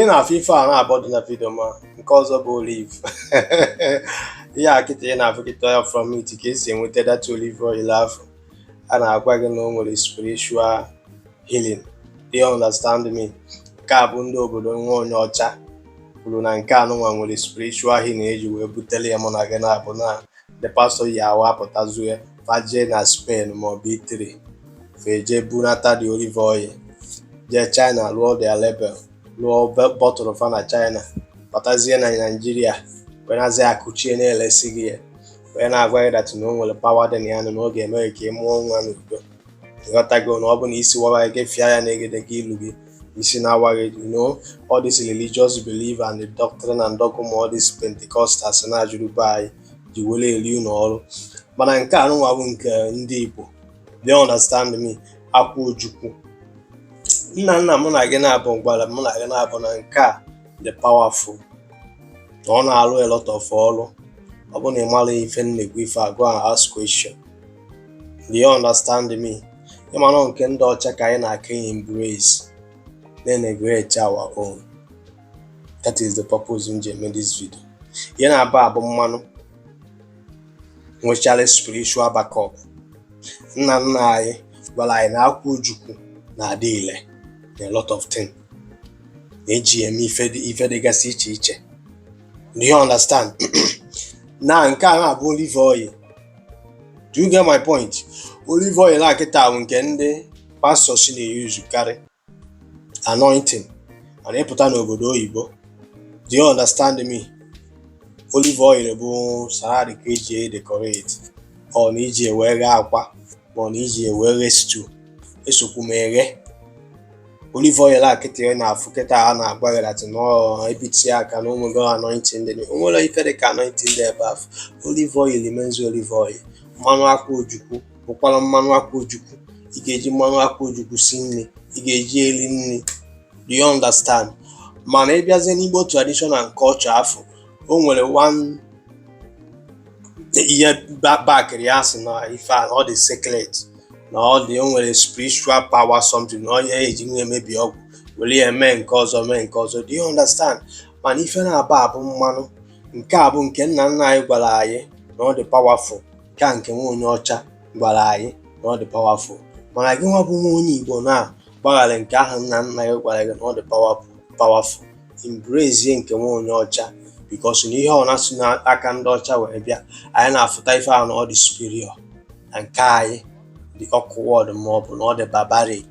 ị na-afụ ife a naabọ dị na vidio ma nke ọzọ bụ olive ihe a kịta ị na-afụ kịta ya from it ka esi enweta that olive oil afụ a na-agwa gị na o nwere spiritual healing do you understand me nke a bụ ndị obodo nwa onye ọcha kwuru na nke a nụnwa nwere spiritual healing eji wee butere ya mụ na gị naabọ na ndị pastor yi awa apụtazie fa je na Spain maọbụ Italy fa eje bunata the olive oil jee China lụọ their label lụọ bottle fa na China batazie na Naijiria wee na-azị akụchie na-elesi gị ya wee na-agwa gị that na o nwere power dị na ya nụ na ọ ga-eme gị ka ị mụọ nwa n'udo ịghọtago na ọ bụ na isi wawa gị fịa ya na egedege ilu gị isi na-awa gị you know all this religious belief and the doctrine and dogma all this Pentecostals na-ajụrụ be anyị ji were eri ụlọ ọrụ mana nke a nụnwa bụ nke ndị Igbo do you understand me akwụ ojukwu nna nna mụ na gị naabọ gwara mụ na gị naabọ na nke a dị powerful na ọ na-alụ a lot of ọrụ ọ bụ na ị mara ife m na-ekwu ife a go and ask question do you understand me mana nke ndị ọcha ka anyị na-aka embrace na-eneglect our own that is the purpose m ji eme this video ihe naabọ a bụ mmanụ nwechara spiritual backup nna nna anyị gwara anyị na akwụ ojukwu na-adị ile na a lot of things na eji eme ife dịgasị iche iche do you understand na nke a na-abụ olive oil do you get my point olive oil a kịta bụ nke ndị pastors na-eyuzu karị anointing and ị pụta n'obodo oyibo do you understand me olive oil bụ salad ka eji edecorate ọ na iji wee ghe akwa ma ọ na iji wee ghe stew esokwu m eghe olive oil a kịta ị na-afụ kịta a na-agwa gị that na ebiti aka na o nwego anointing dị o nwerọ ife dị ka anointing dị ebe afụ olive oil remains olive oil mmanụ akwụ ojukwu bụkwara mmanụ akwụ ojukwu ị ga-eji mmanụ akwụ ojukwu si nri ị ga-eji eri nri do you understand mana ị bịazie n'Igbo tradition and culture afụ o nwere ihe bakịrị ya sị na ife a ọ dị sacred na ọ dị o nwere spiritual power something na onye eji wee emebi ọgwụ were ya mee nke ọzọ mee nke ọzọ do you understand mana ife naabọ a bụ mmanụ nke a bụ nke nna nna anyị gwara anyị na ọ dị powerful nke a nke nwa onye ọcha gwara anyị na ọ dị powerful mana gị nwa bụ nwa onye Igbo na-agbaghara nke ahụ nna nna gị gwara gị na ọ dị powerful embrace nke nwa onye ọcha because na ihe ọbụna si n'aka ndị ọcha wee bịa anyị na-afụta ife ahụ na ọ dị superior na nke anyị dị awkward ma ọ bụ na ọ dị barbaric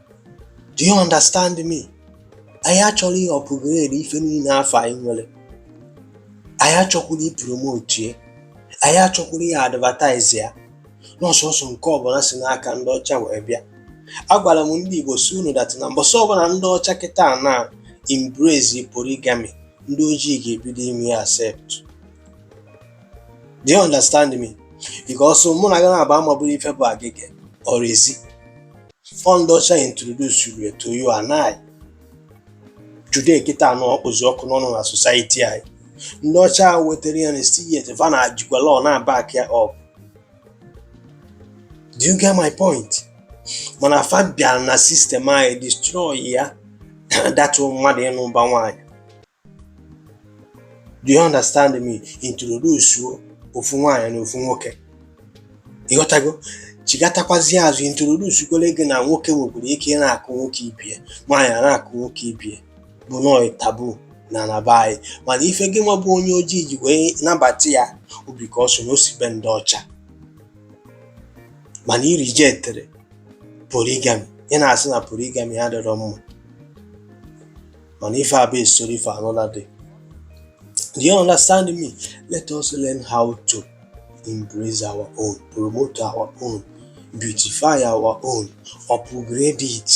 do you understand me anyị achọrọ upgrade ife niile afụ anyị nwere anyị achọkwurọ ịpromote ya anyị achọkwurọ ị advertise ya na ọ sọsọ nke ọbụla si n'aka ndị ọcha wee bịa agwara m ndị Igbo sị unu that na mbọsị ọbụla ndị ọcha kịta na embrace polygamy ndị ojii ga-ebido ime ya accept do you understand me because mụ na gị naabọ amabụrọ ife bụ gay or lezi Ọ ndị ọcha introduce ya to you and I. Today kịta na ọ kpụzi ọkụ n'ọnụ na society anyị. Ndị ọcha ahụ wetara ya na still yet va na-ejikwa law na back ya up. Do you get my point? Mana fa bịara na sistem anyị destroy ya that mmadụ ịnụ ụba nwaanyị. do you understand me introduce ofu nwaanyị na ofu nwoke ị ghọtago chighatakwazie azụ introduce kwere gị na nwoke nwekwara ike ị na-akụ nwoke ibie nwaanyị a na-akụ nwoke ibie bụ nọọ taboo na na be anyị mana ife gị nwa bụ onye ojii ji wee nabata ya ọ because na o si be ndị ọcha mana i rejectere polygamy ị na-asị na polygamy adịrọ mma mana ife a bụ story for another day do you understand me let us learn how to embrace our own promote our own beautify our own upgrade it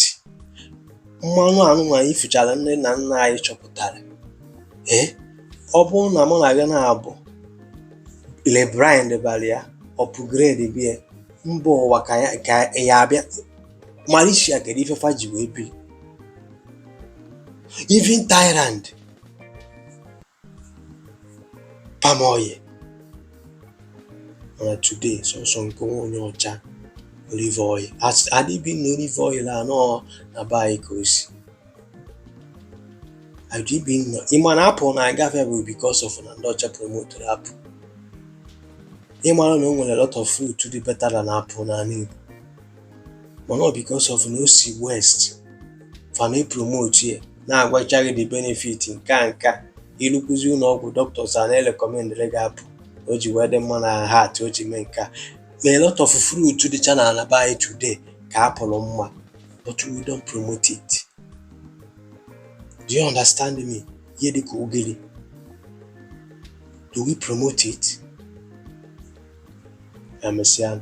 mmanụ anụnwa anyị fichara nne na nna anyị chọpụtara ee eh? ọ bụrụ na mụ na gị naabọ rebrand balụ ya upgrade be ya mba ụwa ka ya-abịa Malaysia kedụ ife fa ji wee bi even Thailand palm oil mana today sọsọ nke nwa onye ọcha olive oil adịbi na olive oil anọ na be anyị ka o si Ajibi nọ ị ma na apple na-aga afịa bụ because of na ndị ọcha promotere apple ị mara na o nwere lot of fruit dị better than apple n'ala Igbo mana ọ because of na o si west fa na promote ya na-agwacha gị the benefit nke a nke a i rukwuzie ụlọ ọgwụ doctors a na-arecommendịrị gị apple o ji wee dị mma na heart o ji mee nke a ma a lot of fruit dịcha n'ala be anyị today ka apple mma but we don't promote it do you understand me ihe dịka ogiri do we promote it emesịa